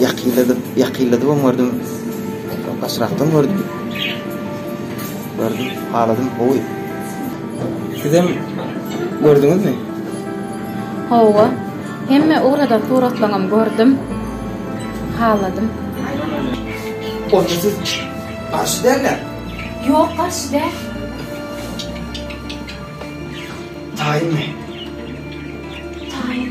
Ýakynladyp, ýakynladybam gördüm. Gaçyrakdan gördüm. Gördüm, haladym gowy. Sizem gördüňizmi? Hawa. Hemme ugradan suratlaňam gördüm. Haladym. Onda siz garşy däl-le? Ýok, garşy däl. Taýynmy? Taýyn.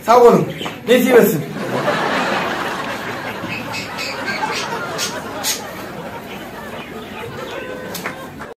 Sag boluň. Nesip etsin.